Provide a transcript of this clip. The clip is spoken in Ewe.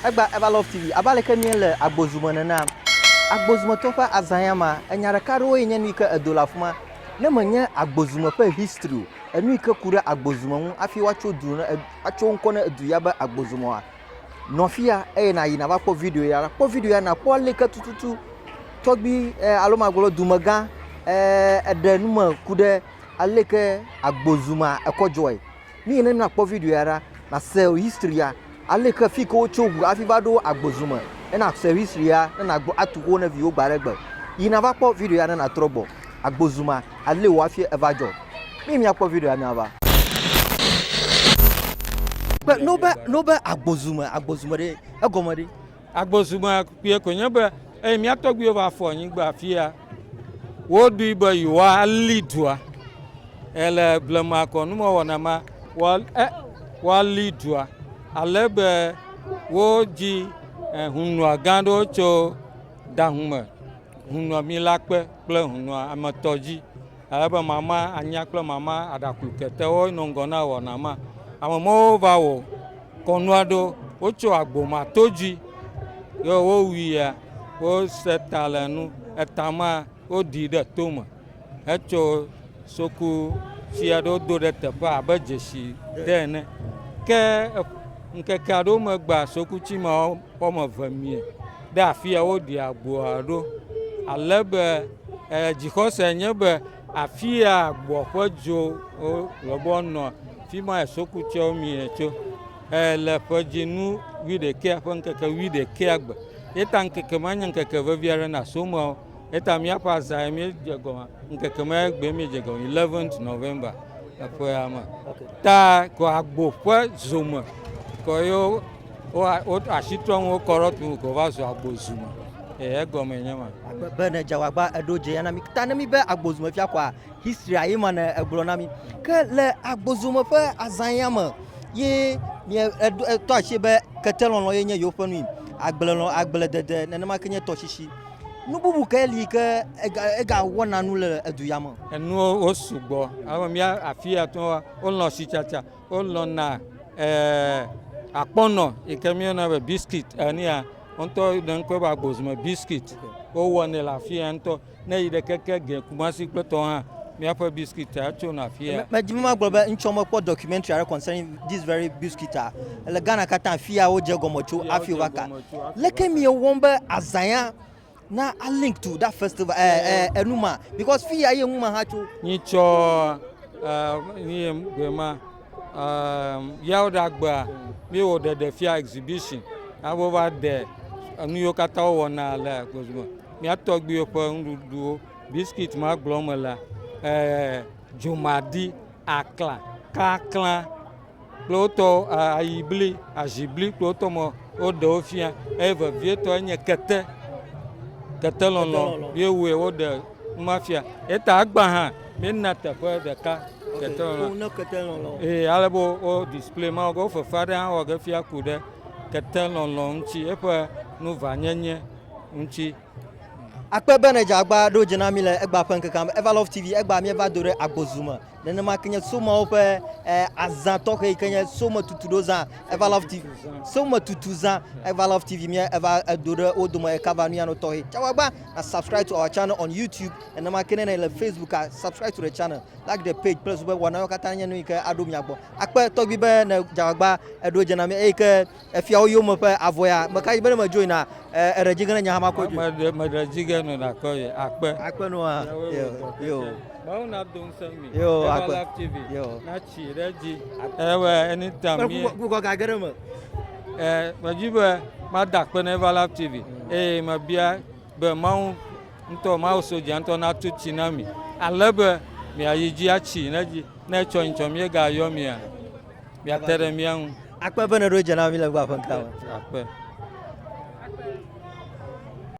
Egba Eva Love TV, abe aleke míele agbozu me nena. Agbozu me tɔwo ƒe azã ya ma, enya ɖeka aɖewoe nye nu yi ke edo le afima. Ne menye agbozu me ƒe history o, enu yi ke ku ɖe agbozu me ŋu hafi woatso du ne, atso ŋkɔ ne edu ya be agbozu me oa, nɔ afia eye nàyi nava kpɔ video ya. Kpɔ video ya nàkpɔ ale yi ke tututu tɔgbui eh, alo magblɔ dumegã eh, eɖe nu me ku ɖe ale yi ke agbozu mea ekɔ dzɔe. Míyi ne na kpɔ video ya ɖa na sell history ya ale ke fike wo tso ŋu afi va ɖo agbozu me ne na sell history ya ne na gbɔ atu xowo ne viwo gba ɖe gbe yi na va kpɔ video ya ne na trɔ gbɔ agbozu ma ale wo afi eva dzɔ mi mia kpɔ video ya mia va kpe no be no be agbozu me agbozu me ɖe egɔme ɖe. Agbɔsɔsɔme kpuie koe nye be eye mía tɔgbuiwo va fɔ anyigba afia. Woɖoe be yewoali dua. Ele blema kɔ numewɔna ma woali dua ale be wodzi eh, hunɔa gã aɖewo tso dahume, hunɔa mila kpe kple hunɔa ametɔ dzi. Ele be mama anya kple mama aɖaklu ketewo nɔ ŋgɔ na wɔna ma. Ame mɔwo va wɔ kɔnu aɖewo. Wotso agbo ma to dzi ye wowuia, wose ta le nu. Eta ma woɖii ɖe tome hetso soku tsi aɖe wodo ɖe teƒe abe dzesi ɖe ene. Ke ŋkeke aɖewo megbea sokutsi ma Ƒe me ve mie ɖe afia wo ɖi agboa ɖo. Ale be dzixɔse nye be afia agboa ƒe dzo lɔbɔ nɔ fi ma esoku tsɛ mie tso. Le ƒe dzinu wuiɖekɛ ƒe ŋkeke wuiɖekɛ gbe. Ye ta ŋkeke ma nye ŋkeke vevi aɖe na soma. Eta míaƒe azã ye míedze gɔme ŋkeke ma ye gbee míedze gɔme 11 November eƒea me. Ta kɔ agbo ƒe zome kɔ yo wo asi trɔ ŋu kɔ ɖe tu kɔ va zu agbo zu me. Ee egɔme nye ma. Be ne dze wagba eɖo dze ya na mi. Ta ne mi be agbo zu me fia kɔa history ayi ma ne egblɔ na mi. Ke le agbo zu me ƒe azã ya me ye mi etɔ asi be ketelɔlɔ ye nye yewo ƒe nui. Agblelɔ agble dede nenema ke nye tɔsisi. Nu bubu ke li ke ega ega wɔna nu le edu ya me. Enuwo wo sugbɔ. Ame mía afi ya tɔ wolɔ̃ sitsatsa, wolɔ̃na ɛɛ akpɔnɔ yi ke míeyɔna be biskit enia. Wo ŋutɔ ɖe ŋkɔe be agbozume biskit. Wowɔnɛ le afi ya ŋutɔ. Ne eyi ɖe keke ge Kumasi kple tɔwo hã míaƒe biskitia tsona afi ya. Medi be magblɔ be ŋtsɔ mekpɔ documentary aɖe concerning this very biskit a. Le Ghana katã afi ya wodze egɔme tso hafi wova ka. Leke miewɔm be azãya na alink to that festival eh, eh, enuma because fi ya ye numa ha tso. Nyitsɔ eh, nye gbema eh, yawo ɖe agbea miewɔ ɖeɖefia exhibition abo va ɖe enu yiwo katã wowɔna le gbɔzɔme miatɔgbiwo ƒe nuɖuɖuwo biskit ma gblɔm me la eh, dzomadi akla kakla kple wotɔ ayibli, azibli kple wotɔ mɔ woɖe wo fia eye vevietɔ enye kete kete lɔlɔ ye wue woɖe numa fia eta agba hã míena teƒe ɖeka kete lɔlɔ eye ale be wo display ma wo fefe aɖe hã wɔ ge fia ku ɖe kete lɔlɔ ŋuti eƒe nuvanyenye ŋuti. Akpe bene dze agba ɖo dze na mi le egba ƒe ŋkekea me. Eva Love TV egba mieva do ɖe agbozu me. Nenema ke nye somawo ƒe eh, azã tɔxɛ yi ke nye some tutu ɖo zã Eva Love TV. Some tutu zã Eva Love TV mie eva edo ɖe wo dome ekava nu ya no tɔxɛ. Tsawa gba na subscribe to our channel on YouTube. Nenema ke nene le Facebook a subscribe to the channel. Like the page kple zu be wɔna yo katã nye nu yi ke aɖo mia gbɔ. Akpe tɔgbi be ne dze agba eɖo dze na mi eyi ke Efiawo yome ƒe avɔ ya, me ka dzi be ne medzoe na eɖe dzi ge ne nye hã makpɔe dzoe. Meɖe meɖe dzi ge no nakpɔ ye akpe. Akpe no hã. Yo yo. Mawu na do ŋusẽ mi. Yo akpe. Eva Life TV. Yo. Na tsi ɖe dzi. Ewe anytime mi. Kpɔ kpɔ ga ge ɖe me. Ɛ medzi be mada akpe na Eva Life TV eye mebia be Mawu ŋutɔ Mawu sodza ŋutɔ natu tsi na mi ale be miayi dzi atsi ɖe dzi ne etsɔ nyitsɔ miegayɔ mia. Miate ɖe mía ŋu. Akpe be nèɖo dze na mí le ŋgɔaƒe ŋkea me. Akpe.